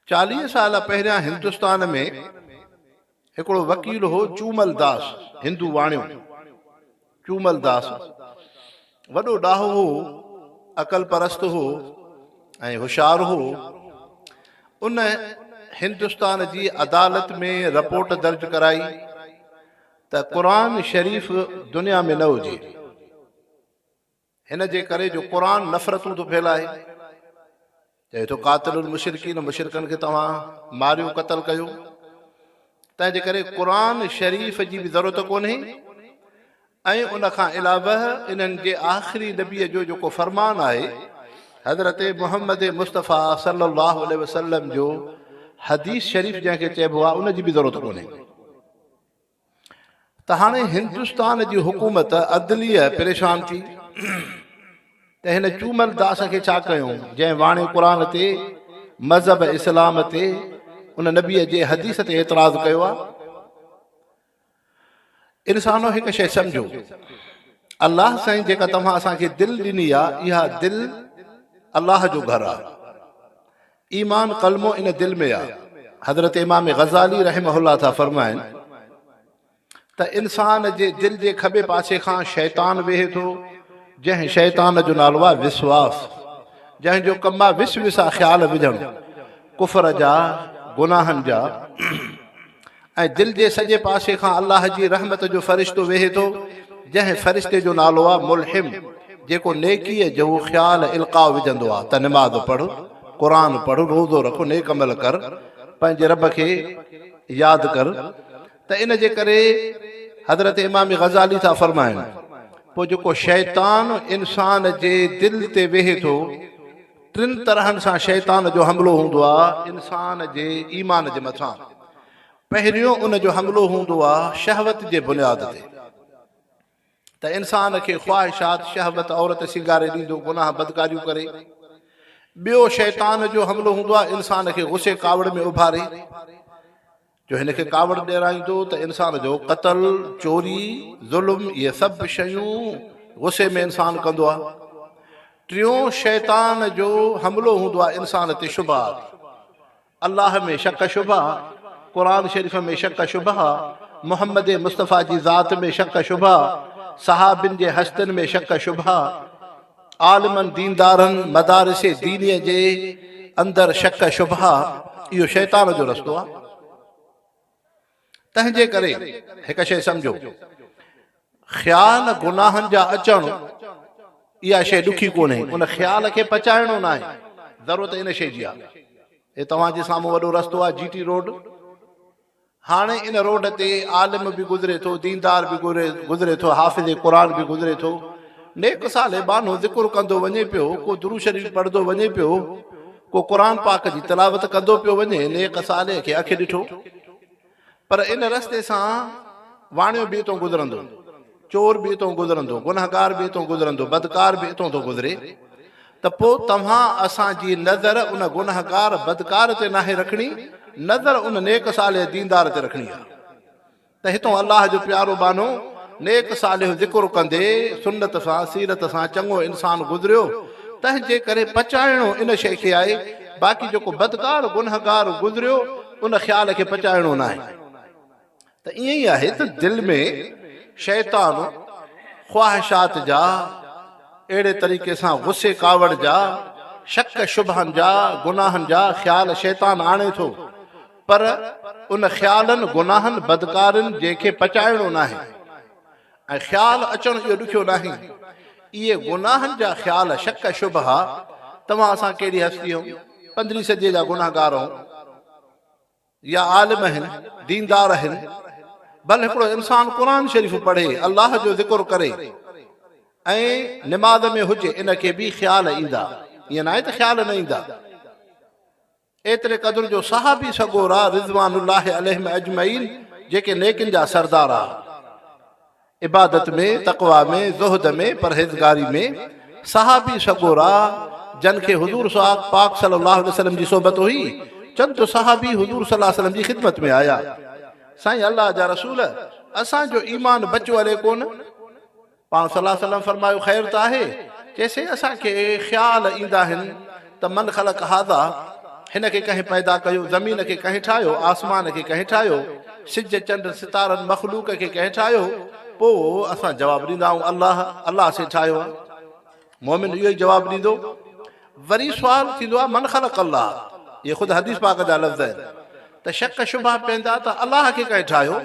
چاليهه سال پهريان هندستان ۾ هڪڙو وڪيل هو چومل داس، هندو واڻيو، چومل داس وڏو ڏاهو هو، عقل پرست هو ۽ هوشيار هو. ان هندستان جي عدالت ۾ رپورٽ درج ڪرائي ته قرآن شريف دنيا ۾ نه هجي. هن جي ڪري جو قرآن نفرتون ٿو ڦهلائي. چئي ٿو قاتل المشرڪين مشرڪن کي توهان ماريو قتل ڪيو. تنهن جي ڪري قرآن شريف جي به ضرورت ڪونهي ۽ ان کان علاوه انهن جي آخري نبي جو جيڪو فرمان آهي حضرت محمد مصطفيٰ صلي الله عليه وسلم جو حديث شريف جنهن کي چئبو آهي ان جي به ضرورت ڪونهي. ته هاڻي هندستان جي حڪومت عدليه پريشان ٿي ته هن چومل داس کي ڇا ڪيون جنهن واڻي قرآن تي مذهب اسلام تي ان نبي جي حديث تي اعتراض ڪيو آ انسانو هڪ شيء سمجهو الله سائين جيڪا توهان اسان کي دل ڏني آ اها دل الله جو گهر آ ايمان ڪلمو ان دل ۾ آ. حضرت امام غزالي رحمه الله ٿا فرمائن ته انسان جي دل جي کٻي پاسي کان شيطان ويهي ٿو جنهن شيطان جو نالو آ وسواس جنهن جو ڪم آ وس وسا خيال وجهڻ ڪفر جا گناهن جا ۽ دل جي سڄي پاسي کان الله جي رحمت جو فرشتو ويهي ٿو، جنهن فرشتي جو نالو آهي ملحم، جيڪو نيڪيء جهو خيال القاء وجهندو آهي ته نماز پڙهه، قرآن پڙهه، روزو رک، نيڪ عمل ڪر، پنهنجي رب کي ياد ڪر ته ان جي ڪري حضرت امام غزالي ٿا فرمائن، پوء جيڪو شيطان انسان جي دل تي ويهي ٿو، ٽن طرحن سان شيطان جو حملو هوندو آهي انسان جي ايمان جي مٿان. پهريون ان جو حملو هوندو آهي شهوت جي بنياد تي ته انسان کي خواهشات، شهوت، عورت سينگاري ڏيندو گناهه بدڪاريون ڪري. ٻيو شيطان جو حملو هوندو آهي انسان کي غصي ڪاوڙ ۾ اڀاري جو هن کي ڪاوڙ ڏيرائيندو ته انسان جو قتل، چوري، ظلم اهي سڀ شيون غصي ۾ انسان ڪندو آهي. ٽيون شيطان جو حملو هوندو آهي انسان تي شبهات. الله ۾ شڪ شبها، قرآن شريف ۾ شڪ شبها، محمد مصطفيٰ جي ذات ۾ شڪ شبها، صحابين جي هستين ۾ شڪ شبها. عالمن ديندارن مدارس دينيء جي اندر شڪ شبها اهو شيطان جو رستو آهي تنهن جي ڪري هڪ شيء سمجهو خيال گناهن جا اچڻ اها شيء ڏکي ڪونهي ان خيال کي پچائڻو نه آهي ضرورت ان شيء جي آهي هي توهان جي سامهون وڏو رستو آهي جي ٽي روڊ هاڻ ان روڊ تي عالم به گذري ٿو، ديندار به گذري ٿو، حافظ قرآن به گذري ٿو، نيڪ صالح ٻانهو ذڪر ڪندو وڃي پيو، ڪو درود شريف پڙهندو وڃي پيو، ڪو قرآن پاڪ جي تلاوت ڪندو پيو وڃي، نيڪ صالح کي اک ڏٺو، پر ان رستي سان واڻيو بي تون گذرندو. چور به اتئون گذرندو، گنهگار به اتئون گذرندو، بدڪار به اتئون ٿو گذري ته پوء توهان اسان جي نظر ان گنهگار بدڪار تي ناهي رکڻي، نظر ان نيڪ صالح ديندار تي رکڻي آهي ته هتئون الله جو پيارو ٻانهو نيڪ صالح ذڪر ڪندي سنت سان سيرت سان چڱو انسان گذريو تنهن جي ڪري پچائڻو ان شيء کي آهي باقي جيڪو بدڪار گنهگار گذريو ان خيال کي پچائڻو ناهي. ته ائين ئي آهي ته دل ۾ شيطان خواهشات جا، اهڙي طريقي سان غصي ڪاوڙ جا، شڪ شبهن جا، گناهن جا خيال شيطان آڻي ٿو، پر ان خيالن، گناهن، بدڪارين جي کي پچائڻو ناهي ۽ خيال اچڻ اهو ڏکيو ناهي. اهي گناهن جا خيال، شڪ شبها، توهان اسان ڪهڙي هستي هئون، پندرهين صديء جا گنهگار هئون. يا عالم آهن، ديندار آهن، بل هڪڙو انسان قرآن شريف پڙهي، الله جو ذڪر ڪري ۽ نماز ۾ هجي ان کي به خيال ايندا، ائين ناهي ته خيال نه ايندا. ايتري قدر جو صحابي سڳورا رضوان الله عليهم اجمعين جيڪي نيڪين جا سردار ها. عبادت ۾، تقويٰ ۾، زهد ۾، پرهيزگاري ۾، صحابي سڳورا جن کي حضور سعاد پاڪ صلّي اللّٰه عليه وسلّم جي صحبت هئي، چند صحابي حضور صلّي اللّٰه عليه وسلّم جي خدمت ۾ آيا، سائين الله جا رسول! اسان جو ايمان بچو هلي ڪونه؟ پاڻ صلّي اللّٰه عليه وسلّم فرمايو، خير ته آهي؟ چيسين، اسان کي خيال ايندا آهن ته من خلق هذا، هن کي ڪنهن پيدا ڪيو، زمين کي ڪنهن ٺاهيو، آسمان کي ڪنهن ٺاهيو، سج چنڊ ستارن مخلوق کي ڪنهن ٺاهيو، پوء اسان جواب ڏيندا آهون الله، الله سين ٺاهيو آهي. مؤمن اهو ئي جواب ڏيندو. وري سوال ٿيندو آهي من خلق الله، اهي خود حديث پاڪ جا لفظ آهن ته شڪ شبها پيندا ته الله کي ڪنهن ٺاهيو،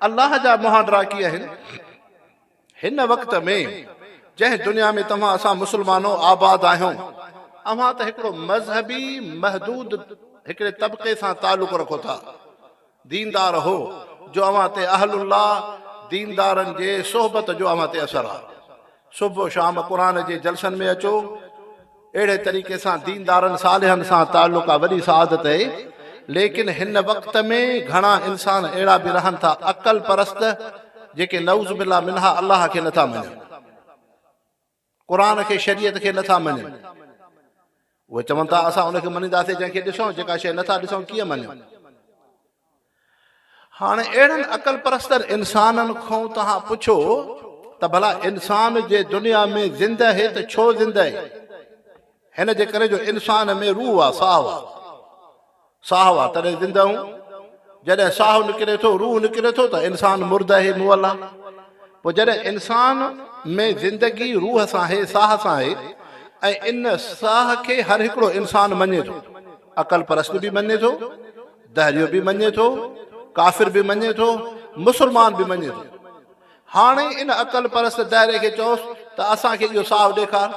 الله جا مهانڊرا ڪي آهن. هن وقت ۾ جنهن دنيا ۾ توهان اسان مسلمانو آباد آهيون، اوهان ته هڪڙو مذهبي محدود هڪڙي طبقي سان تعلق رکو ٿا. ديندار هو جو اوهان تي اهل الله، ديندارن جي صحبت جو اوهان تي اثر آهي. صبح و شام قرآن جي جلسن ۾ اچو. اهڙي طريقي سان ديندارن صالحن سان تعلق ڪا وڏي سعادت اهي ليڪن هن وقت ۾ گهڻا انسان اهڙا به رهن ٿا عقل پرست جيڪي نعوذ بالله منها الله کي نٿا مڃن قرآن کي شريعت کي نٿا مڃن اهي چون ٿا اسان ان کي مڃينداسين جنهن کي ڏسون جيڪا شيء نٿا ڏسون ڪيئن مڃون هاڻ اهڙن عقل پرستن انسانن کون توهان پڇو ته ڀلا انسان جي دنيا ۾ زنده هي ته ڇو زنده هي؟ هن جي ڪري جو انسان ۾ روح هئا، ساهه هئا. ساهه هئا تڏهن زنده هون. جڏهن ساهه نڪري ٿو، روح نڪري ٿو ته انسان مرده هي، مئل آ. پوء جڏهن انسان ۾ زندگي روح سان هي، ساهه سان هي ۽ ان ساهه کي هر هڪڙو انسان مڃي ٿو. عقل پرست به مڃي ٿو. دهريو به مڃي ٿو، ڪافر به مڃي ٿو، مسلمان به مڃي ٿو. هاڻي ان عقل پرست دهري کي چئوس ته اسان کي اهو ساهو ڏيکار.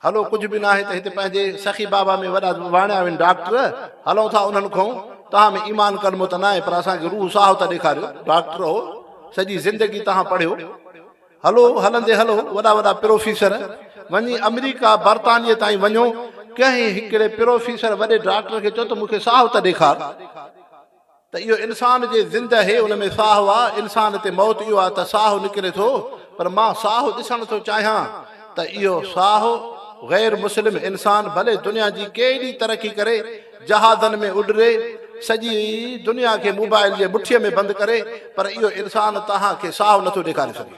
هلو ڪجهه به ناهي ته هتي پنهنجي سخي بابا ۾ وڏا واڻيا آهن ڊاڪٽر، هلون ٿا انهن کون، توهان ۾ ايمان ڪلمو ته ناهي پر اسان کي روح ساهو ته ڏيکاريو. ڊاڪٽر هو، سڄي زندگي توهان پڙهيو. هلو هلندي هلو وڏا وڏا پروفيسر وڃي آمريڪا برطانيه تائين وڃو ڪنهن هڪڙي پروفيسر وڏي ڊاڪٽر کي چئو ته مون کي ساهه ته ڏيکار ته اهو انسان جي زنده هي ان ۾ ساهه آ انسان تي موت اهو آ ته ساهه نڪري ٿو پر مان ساهه ڏسڻ ٿو چاهيان ته اهو ساهه غير مسلم انسان ڀلي دنيا جي ڪيڏي ترقي ڪري جهازن ۾ اڏري سڄي دنيا کي موبائل جي مٺيء ۾ بند ڪري پر اهو انسان توهان کي ساهو نٿو ڏيکاري سگهي.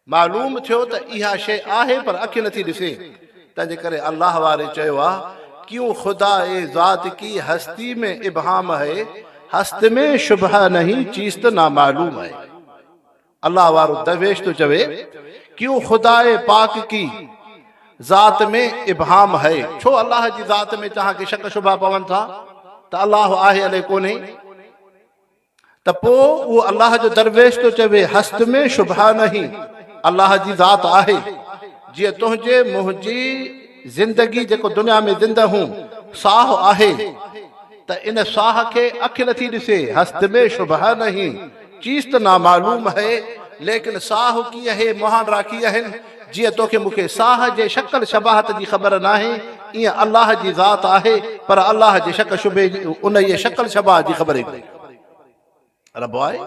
معلوم ٿيو ته اها شيء آهي پر اک نٿي ڏسي تنهن جي ڪري الله واري چيو آهي ڪيون خدا اي ذات ڪي هستي مين ابهام هي هست مين شبهه نهين چيست نامعلوم هي. الله وارو درويش ٿو چوي، ڪيون خداء پاڪ ڪي ذات ۾ ابهام هئ، ڇو الله جي ذات ۾ توهان کي شڪ شبها پون ٿا ته الله آهي الي ڪونهي؟ ته پوء اهو الله جو درويش ٿو چوي، هست ۾ شبهه نهي، الله جي ذات آهي، جيئن تنهنجي منهنجي زندگي جيڪو دنيا ۾ زنده هون ساهو آهي، ته ان ساهه کي اک نه ٿي ڏسي، هست مين شبهه نهين، چيز ته نامعلوم هي، ليڪن ساهه ڪيئن هي، مهان راکي اهن، جيئن توکي مون کي ساهه جي شڪل شباهت جي خبر ناهي، ايئن الله جي ذات آهي، پر الله جي شڪ شبهي، انهيء شڪل شباهت جي خبر ئي ڪونهي. ربع آهي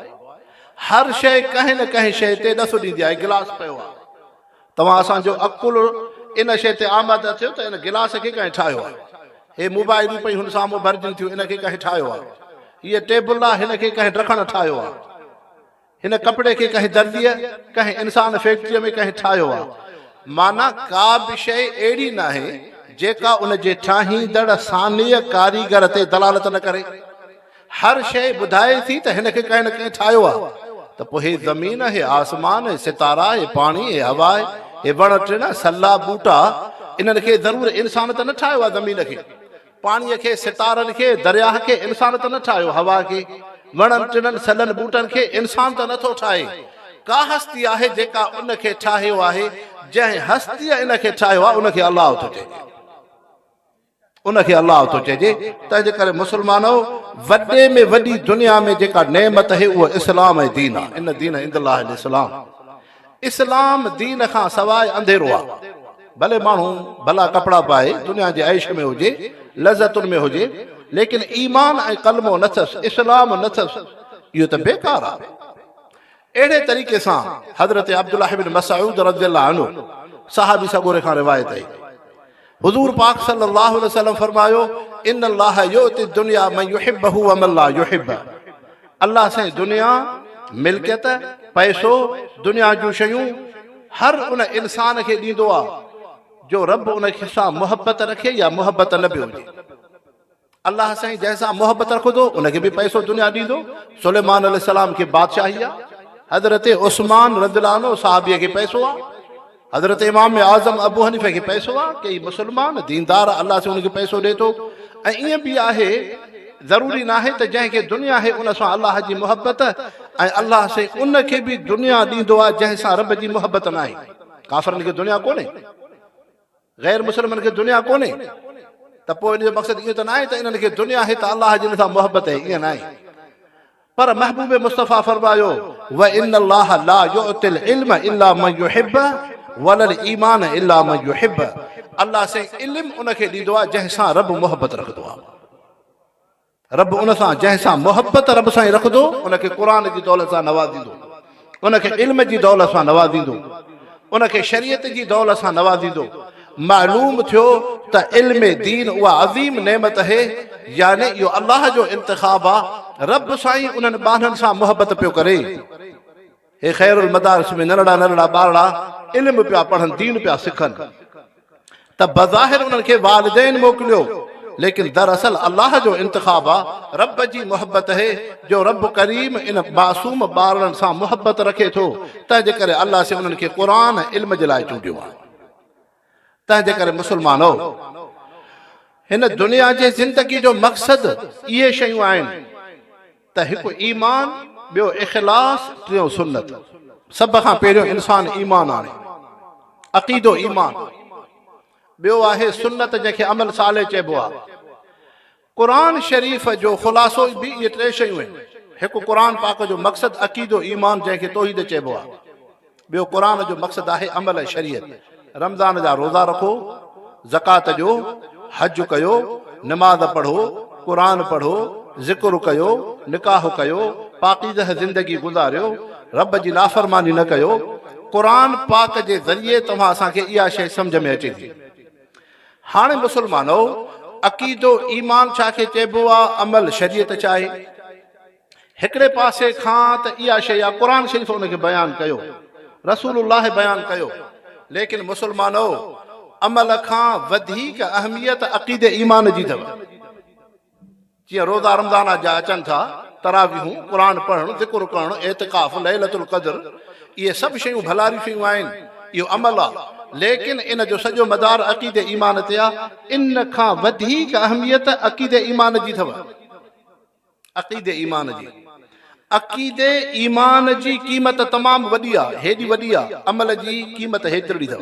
هر شيء ڪنهن نه ڪنهن شيء تي ڏس ڏيندي آهي گلاس پيو آهي توهان اسان جو عقل ان شيء تي آماده ٿيو ته ان گلاس کي ڪنهن ٺاهيو آهي هي موبائلون پئي هن سامهون ڀرجن ٿيون ان کي ڪنهن ٺاهيو آهي هيء ٽيبل آهي هن کي ڪنهن ڊکڻ ٺاهيو آهي هن ڪپڙي کي ڪنهن درزيء ڪنهن انسان فيڪٽريء ۾ ڪنهن ٺاهيو آهي معنيٰ ڪا به شيء اهڙي ناهي جيڪا ان جي ٺاهيندڙ صانع ڪاريگر تي دلالت نه ڪري هر شيء ٻڌائي ٿي ته هن کي ڪنهن نه ڪنهن ٺاهيو آهي ته پوء هي زمين، هي آسمان، هي ستارا، هي پاڻي، هي هوا، هي وڻ ٽڻ، سلا، ٻوٽا، انهن کي ضرور انسان ته نه ٺاهيو آهي، زمين کي، پاڻيء کي، ستارن کي، درياهه کي انسان ته نه ٺاهيو، هوا کي، وڻن ٽڻن، سلن ٻوٽن کي انسان ته نٿو ٺاهي. ڪا هستي آهي جيڪا ان کي ٺاهيو آهي، جنهن هستيء ان کي ٺاهيو آهي ان کي الله ٿو چئجي. ان کي الله ٿو چئجي، تنهنجي ڪري مسلمانؤ! وڏي ۾ وڏي دنيا ۾ جيڪا نعمت اهي اهو اسلام ۽ دين آ، ان دين عند الله الاسلام، اسلام دين کان سواء انڌيرو آ، ڀلي ماڻهو ڀلا ڪپڙا پائي، دنيا جي عيش ۾ هجي، لذتن ۾ هجي، ليڪن ايمان ۽ ڪلمو نه ٿس، اسلام نه ٿس، اهو ته بيڪار آ. اهڙي طريقي سان حضرت عبدالله بن مسعود رضي الله عنه صحابي سڳوري کان روايت آهي حضور پاڪ صلي الله عليه وسلم فرمايو ان الله يؤتي الدنيا من يحبه ومن لا يحبه الله سائين دنيا ملڪيت پئسو دنيا جون شيون هر ان انسان کي ڏيندو آ جو رب ان کي سان محبت رکي يا محبت نه به هجي الله سائين جنهن سان محبت رکندو ان کي به پئسو دنيا ڏيندو سليمان عليه السلام کي بادشاهي آ حضرت عثمان رضي الله عنه صحابي کي پئسو آ حضرت امام اعظم ابو حنيفه کي پئسو آ ڪي مسلمان ديندار الله سائين ان کي پئسو ڏي ٿو ۽ ايئن به آهي ضروري نه آهي ته جنهن کي دنيا آهي ان سان الله جي محبت ۽ الله سائين ان کي به دنيا ڏيندو آ جنهن سان رب جي محبت نه آهي ڪافرن کي دنيا ڪونهي غير مسلمن کي دنيا ڪونهي ته پوء ان جو مقصد ايئن ته نه آهي ته انهن کي دنيا آهي ته الله جي ان سان محبت آهي ايئن نه آهي پر محبوب مصطفيٰ فرمايو وان الله لا يعطي العلم الا من يحب ولا الايمان الا من يحب الله سائين علم ان کي ڏيندو آهي جنهن سان رب محبت رکندو آهي رب ان سان جنهن سان محبت رب سائين رکندو ان کي قرآن جي دولت سان نوازيندو ان کي علم جي دولت سان نوازيندو ان کي شريعت جي دولت سان نوازيندو معلوم ٿيو ته علم دين اها عظيم نعمت اهي يعني اهو الله جو انتخاب آ رب سائين انهن ٻانهن سان محبت پيو ڪري. هي خير المدارس ۾ ننڍڙا ننڍڙا ٻارڙا علم پيا پڙهن دين پيا سکن ته بظاهر انهن کي والدين موڪليو ليڪن دراصل الله جو انتخاب آ رب جي محبت هي جو رب ڪريم ان معصوم ٻارڙن سان محبت رکي ٿو تنهنجي ڪري الله سي انهن کي قرآن ۽ علم جي لاء چونڊيو آ. تنهنجي ڪري مسلمانو! هن دنيا جي زندگي جو مقصد اهي شيون آهن ته هڪ ايمان، ٻيو اخلاص، ٽيون سنت. سڀ کان پهريون انسان ايمان آڻي. عقيدو ايمان. ٻيو آهي سنت جنهن کي عمل صالح چئبو آهي. قرآن شريف جو خلاصو به اهي ٽي شيون آهن، هڪ قرآن پاڪ جو مقصد عقيدو ايمان جنهن کي توحيد چئبو آهي، ٻيو قرآن جو مقصد آهي عمل ۽ شريعت، رمضان جا روزا رکو، زڪوات ڏيو، حج ڪيو، نماز پڙهو، قرآن پڙهو، ذڪر ڪيو، نڪاح ڪيو، پاڪيزه زندگي گذاريو، رب جي نافرماني نه ڪيو، قرآن پاڪ جي ذريعي توهان اسان کي اها شيء سمجهه ۾ اچي ٿي هاڻي مسلمانؤ! عقيدو، ايمان، ڇا کي چئبو آ؟ عمل، شريعت ڇا آهي؟ هڪڙي پاسي کان ته اها شيء آ، قرآن شريف ان کي بيان ڪيو، رسول الله بيان ڪيو، ليڪن مسلمانؤ! عمل کان وڌيڪ اهميت عقيدي ايمان جي اٿو. جيئن روزا رمضان جا اچن ٿا، تراويحون، قرآن پڙهڻ، ذڪر ڪرڻ، اعتڪاف، ليلة القدر، اهي سڀ شيون ڀلاريون شيون آهن، اهو عمل آ، ليڪن ان جو سڄو مدار عقيدي ايمان تي آ، ان کان وڌيڪ اهميت عقيدي ايمان جي ٿو، عقيدي ايمان جي، عقيدي ايمان جي قيمت تمام وڏي آ، هيڏي وڏي آ، عمل جي قيمت هيترڙي ٿو.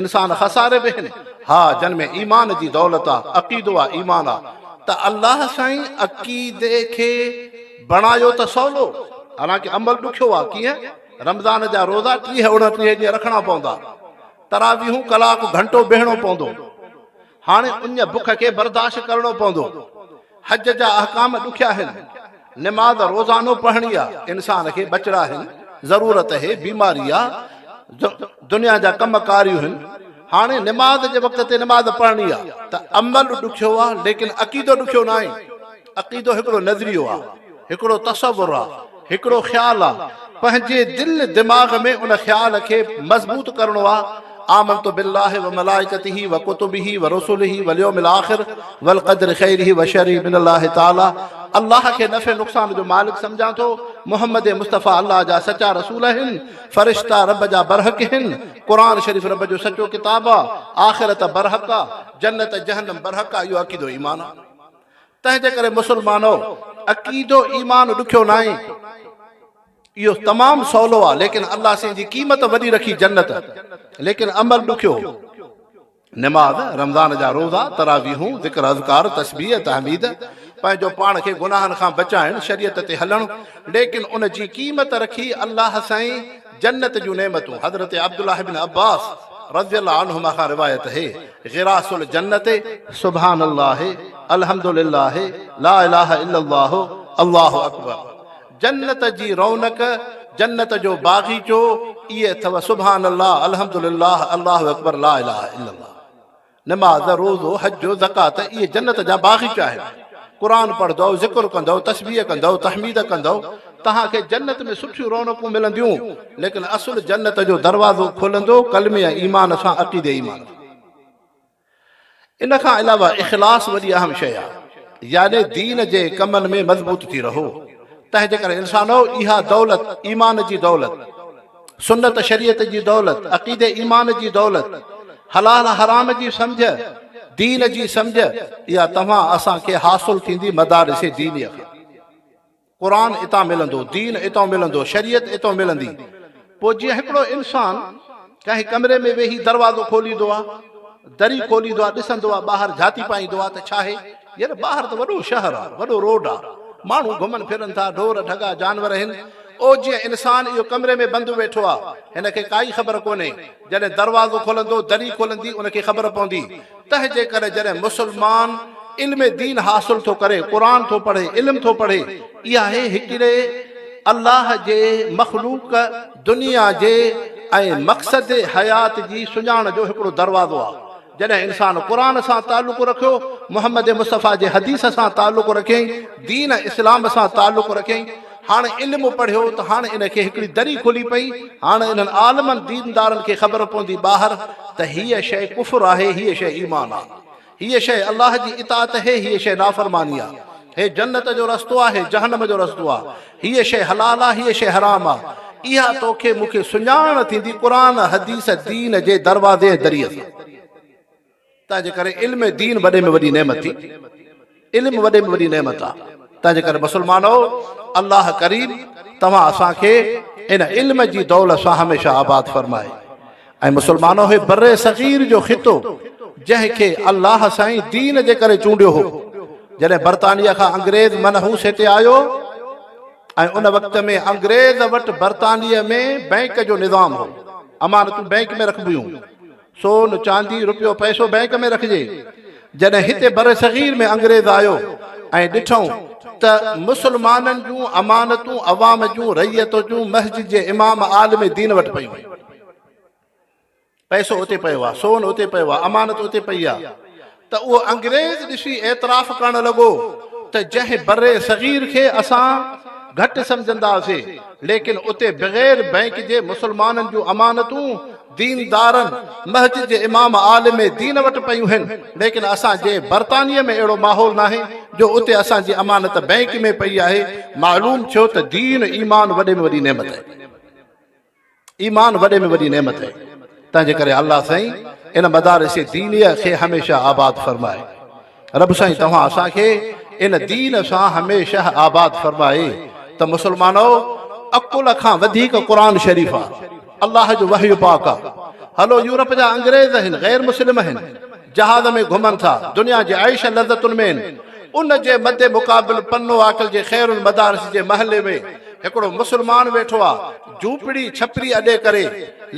انسان خساري به هن ها جن ۾ ايمان جي دولت آ عقيدو آ ايمان آ ته الله سائين عقيدي کي بڻايو ته سولو حالانڪه عمل ڏکيو آ ڪيئن رمضان جا روزا ٽيهه اوڻٽيهه ڏينهن رکڻا پوندا تراويحون ڪلاڪ گهنٽو بيهڻو پوندو هاڻي ان بک کي برداشت ڪرڻو پوندو. حج جا احڪام ڏکيا آهن. نماز روزانو پڙهڻي آ. انسان کي ٻچڙا آهن، ضرورت هي، بيماري آ، دنيا جا ڪم ڪاريون هن. هاڻي نماز جي وقت تي نماز پڙهڻي آ ته عمل ڏکيو آ ليڪن عقيدو ڏکيو ناهي. عقيدو هڪڙو نظريو آ، هڪڙو تصور آ، هڪڙو خيال آ، پنهنجي دل دماغ ۾ ان خيال کي مضبوط ڪرڻو آ، آمنت بالله وملائڪته وڪتبه ورسله واليوم الاخر والقدر خيره وشره من الله تعالي، الله کي نفع نقصان جو مالڪ سمجهان ٿو، محمد مصطفي الله جا سچا رسول آهن، فرشتا رب جا برحق هن، قرآن شريف رب جو سچو ڪتاب آ، آخرت برحق آ، جنت جهنم برحق آ اهو عقيدو ايمان آ. تنهنجي ڪري مسلمانو عقيدو ايمان ڏکيو ناهي اهو تمام سولو آ ليڪن الله سين جي قيمت وڏي رکي جنت ليڪن عمل ڏکيو نماز رمضان جا روزا تراويحون ذڪر اذڪار تسبيح تحميد پنهنجو پاڻ کي گناهن کان بچائڻ شريعت تي هلڻ ليڪن ان جي قيمت رکي الله سائين جنت جون نعمتون، حضرت عبدالله بن عباس رضي الله عنهما کان روايت هي، غراس الجنت، سبحان الله، الحمد لله، لا اله الا الله، الله اڪبر، جنت جي رونق، جنت جو باغيچو، اهي اٿو، سبحان الله، الحمد لله، الله اڪبر، لا اله الا الله. نماز، روزو، حج، زڪوات اهي جنت جا باغيچا آهن. قرآن پڙهندؤ، ذڪر ڪندؤ، تسبيح ڪندؤ، تحميد ڪندؤ، توهان کي جنت ۾ سٺيون رونقون ملنديون، ليڪن اصل جنت جو دروازو کولندو ڪلمي ۽ ايمان سان عقيدي ايمان ٿيندو. ان کان علاوه اخلاص وڏي اهم شيء آهي، يعني دين جي ڪمن ۾ مضبوط ٿي رهو، تنهنجي ڪري انسانؤ اها دولت، ايمان جي دولت، سنت شريعت جي دولت، عقيدي ايمان جي دولت، حلال حرام جي سمجهه، دين جي سمجهه، اها توهان اسان کي حاصل ٿيندي مدارس دينيه کان. قرآن اتان ملندو، دين اتان ملندو، شريعت اتان ملندي. پوء جيئن هڪڙو انسان ڪنهن ڪمري ۾ ويهي دروازو کوليندو آهي، دري کوليندو آهي، ڏسندو آهي ٻاهر جهاتي پائيندو آهي ته ڇاهي؟ ير ٻاهر ته وڏو شهر آ، وڏو روڊ آ، ماڻهو گهمن ڦرن ٿا، ڍور ڍڳا جانور هن، او جيئن انسان اهو ڪمري ۾ بند ويٺو آ، هن کي ڪائي خبر ڪونهي، جڏهن دروازو کولندو، دري کولندي، ان کي خبر پوندي، تنهنجي ڪري جڏهن مسلمان علم دين حاصل ٿو ڪري، قرآن ٿو پڙهي، علم ٿو پڙهي، اها هي هڪڙي الله جي مخلوق، دنيا جي ۽ مقصد حيات جي سڃاڻ جو هڪڙو دروازو آ. جڏهن انسان قرآن سان تعلق رکيو، محمد مصطفيٰ جي حديث سان تعلق رکيائين، دين اسلام سان تعلق رکيائين، هاڻ علم پڙهيو ته هاڻ ان کي هڪڙي دري کلي پئي، هاڻ انهن عالمن ديندارن کي خبر پوندي ٻاهر ته هيء شيء ڪفر آهي، هيء شيء ايمان آهي، هيء شيء الله جي اطاعت هي، هيء شيء نافرماني آهي. هي جنت جو رستو آ، هي جهنم جو رستو آ، هيء شيء حلال آ، هيء شيء حرام آ، اها توکي مون کي سڃاڻ ٿيندي قرآن، حديث، دين جي دروازي ۽ دريء سان. تنهنجي ڪري علم دين وڏي ۾ وڏي نعمت ٿي. علم وڏي ۾ وڏي نعمت آ. تنهنجي ڪري مسلمانؤ! الله ڪريم توهان اسان کي ان علم جي دولت سان هميشه آباد فرمائي. اي مسلمانو! هي بر صغير جو خطو جنهن کي الله سائين دين جي ڪري چونڊيو هو، جڏهن برطانيه کان انگريز منحوس هتي آيو ۽ ان وقت ۾ انگريز وٽ برطانيه ۾ بئنڪ جو نظام هو، امانتون بئنڪ ۾ رکبيون، سون، چاندي، روپيو پئسو بئنڪ ۾ رکجي، جڏهن هتي بر صغير ۾ انگريز آيو ۽ ڏٺئون ته مسلمانن جون امانتون عوام جون، رعيت جون، مسجد جي امام، عالم دين وٽ پيون. پئسو اتي پيو آ، سون اتي پيو آ، امانت اتي پئي آ ته اهو انگريز ڏسي اعتراف ڪرڻ لڳو ته جنهن بر صغير کي اسان گهٽ سمجهندا سي ليڪن اتي بغير بئنڪ جي مسلمانن جون امانتون ديندارن، مسجد جي امام عالم دين وٽ پيون هين ليڪن اسان جي برطانيه ۾ اهڙو ماحول ناهي جو اتي اسان جي امانت بئنڪ ۾ پئي آهي معلوم ٿيو ته دين ايمان وڏي ۾ وڏي نعمت آهي. ايمان وڏي ۾ وڏي نعمت آهي تنهنجي ڪري الله سائين ان مدارس دينيه کي هميشه آباد فرمائي رب سائين توهان اسان کي ان دين سان هميشه آباد فرمائي ته مسلمانو عقل کان وڌيڪ قرآن شريف آ الله جو وحي پاڪ آ هلو يورپ جا انگريز هن غير مسلم هن جهاز ۾ گهمن ٿا دنيا جي عيش لذتن ۾، ان جي مد مقابل پنو عاقل جي خير المدارس جي محلي ۾ هڪڙو مسلمان ويٺو آ جهوپڙي ڇپري اڏي ڪري،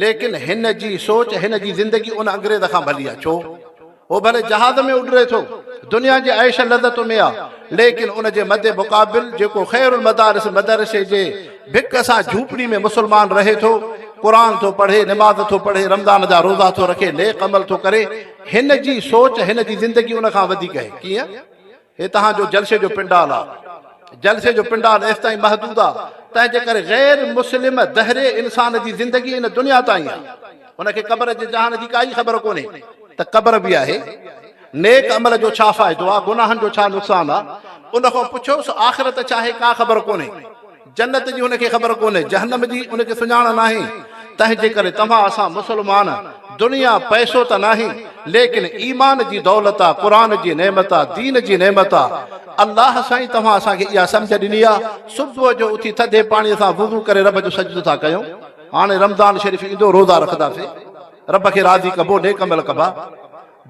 ليڪن هن جي سوچ هن جي زندگي ان انگريز کان ڀلي آ ڇو هو ڀلي جهاز ۾ اڏري ٿو دنيا جي عيش لذتن ۾ آ ليڪن ان جي مد مقابل جيڪو خير المدارس مدرسي جي ڀڪ سان جهوپڙي ۾ مسلمان رهي ٿو، قرآن ٿو پڙهي، نماز ٿو پڙهي، رمضان جا روزا ٿو رکي، نيڪ عمل ٿو ڪري، هن جي سوچ، هن جي زندگي ان کان وڌيڪ آهي. ڪيئن؟ هي توهان جو جلسي جو پنڊال آهي. جلسي جو پنڊال ايستائين محدود آهي، تنهن جي ڪري غير مسلم دهري انسان جي زندگي ان دنيا تائين آهي. ان کي قبر جي جهان جي ڪائي خبر ڪونهي ته قبر به آهي. نيڪ عمل جو ڇا فائدو آ؟ گناهن جو ڇا نقصان آ؟ ان کان پڇيوس، آخرت ڇا آهي؟ ڪا خبر ڪونهي. جنت جي هن کي خبر ڪونهي، جهنم جي ان کي سڃاڻ ناهي. تنهنجيڪري توهان اسان مسلمان، دنيا پئسو ته ناهي، ليڪن ايمان جي دولت آ، قرآن جي نعمت آ، دين جي نعمت آ. الله سائين توهان اسان کي اها سمجهه ڏني آ. صبح جو اٿي ٿڌي پاڻي سان وضو ڪري رب جو سجدو ٿا ڪيون. هاڻي رمضان شريف ايندو، روزا رکنداسين. رب کي راضي ڪبو، نيڪ عمل ڪبا.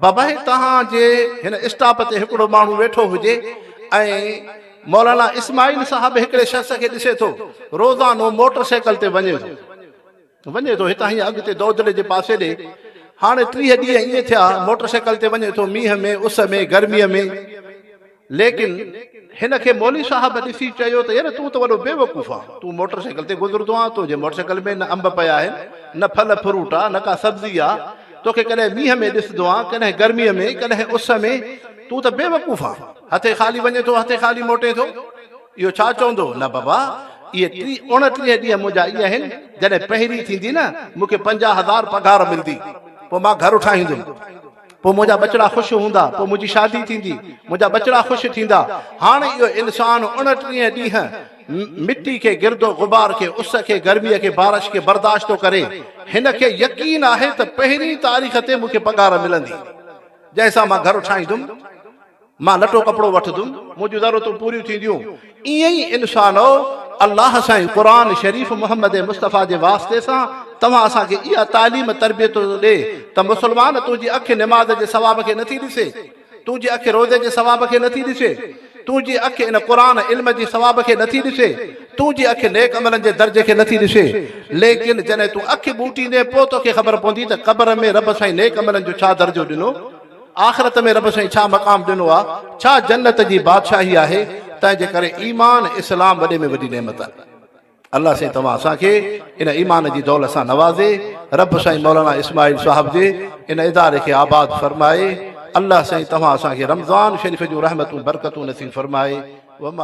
باباهي توهان جي هن اسٽاپ تي هڪڙو ماڻهو ويٺو هجي ۽ مولانا اسماعيل صاحب هڪڙي شخص کي ڏسي ٿو روزانو موٽر سائيڪل تي وڃي ٿو وڃي ٿو هتان هيئن اڳتي دودڙي جي پاسي ڏي هاڻي ٽيهه ڏينهن ائين ٿيا موٽر سائيڪل تي وڃي ٿو مينهن ۾ اس ۾ گرمي ۾ ليڪن هن کي مولوي صاحب ڏسي چيو ته يار تون ته وڏو بيوقوف آن، تون موٽر سائيڪل تي گذرندو آن، تنهنجي موٽر سائيڪل ۾ نه انب پيا آهن، نه ڦل فروٽ آ، نه ڪا سبزي آ، توکي ڪڏهن مينهن ۾ ڏسندو آن، ڪڏهن گرميء ۾، ڪڏهن اس ۾، تون ته بيوقوف آن، هٿي خالي وڃين ٿو، هٿي خالي موٽين ٿو، اهو ڇا چوندو؟ نه بابا، اهي ٽي اوڻٽيهه ڏينهن منهنجا ائين آهن، جڏهن پهرين ٿيندي نه، مون کي پنجاهه هزار پگهار ملندي، پوء مان گهر ٺاهيندم. پوء منهنجا ٻچڙا خوش هوندا، پوء منهنجي شادي ٿيندي، منهنجا ٻچڙا خوش ٿيندا. هاڻ اهو انسان اڻٽيهه ڏينهن مٽي کي، گرد و غبار کي، اس کي، گرميء کي، بارش کي برداشت ٿو ڪري. هن کي يقين آهي ته پهرين تاريخ تي مون کي پگهار ملندي، جنهن سان مان گهر ٺاهيندم. مان لٽو ڪپڙو وٺندم، منهنجون ضرورتون پوريون ٿينديون. ايئن ئي انسانؤ! الله سائين قرآن شريف محمد مصطفيٰ جي واسطي سان توهان اسان کي اها تعليم تربيت ٿو ڏي ته مسلمان تنهنجي اک نماز جي ثواب کي نٿي ڏسي؟ تنهنجي اک روزي جي ثواب کي نٿي ڏسي؟ تنهنجي اک ان قرآن علم جي ثواب کي نٿي ڏسي؟ تنهنجي اک نيڪ عملن جي درجي کي نٿي ڏسي؟ ليڪن جڏهن تون اک ٻوٽيندين پوء توکي خبر پوندي ته قبر ۾ رب سائين نيڪ عملن جو ڇا درجو ڏنو؟ آخرت ۾ رب سائين ڇا مقام ڏنو آ ڇا جنت جي بادشاهي آهي تنهن جي ڪري ايمان اسلام وڏي ۾ وڏي نعمت آ الله سائين توهان اسان کي ان ايمان جي دولت سان نوازي رب سائين مولانا اسماعيل صاحب جي ان اداري کي آباد فرمائي الله سائين توهان اسان کي رمضان شريف جون رحمتون برڪتون نصيب فرمائي وما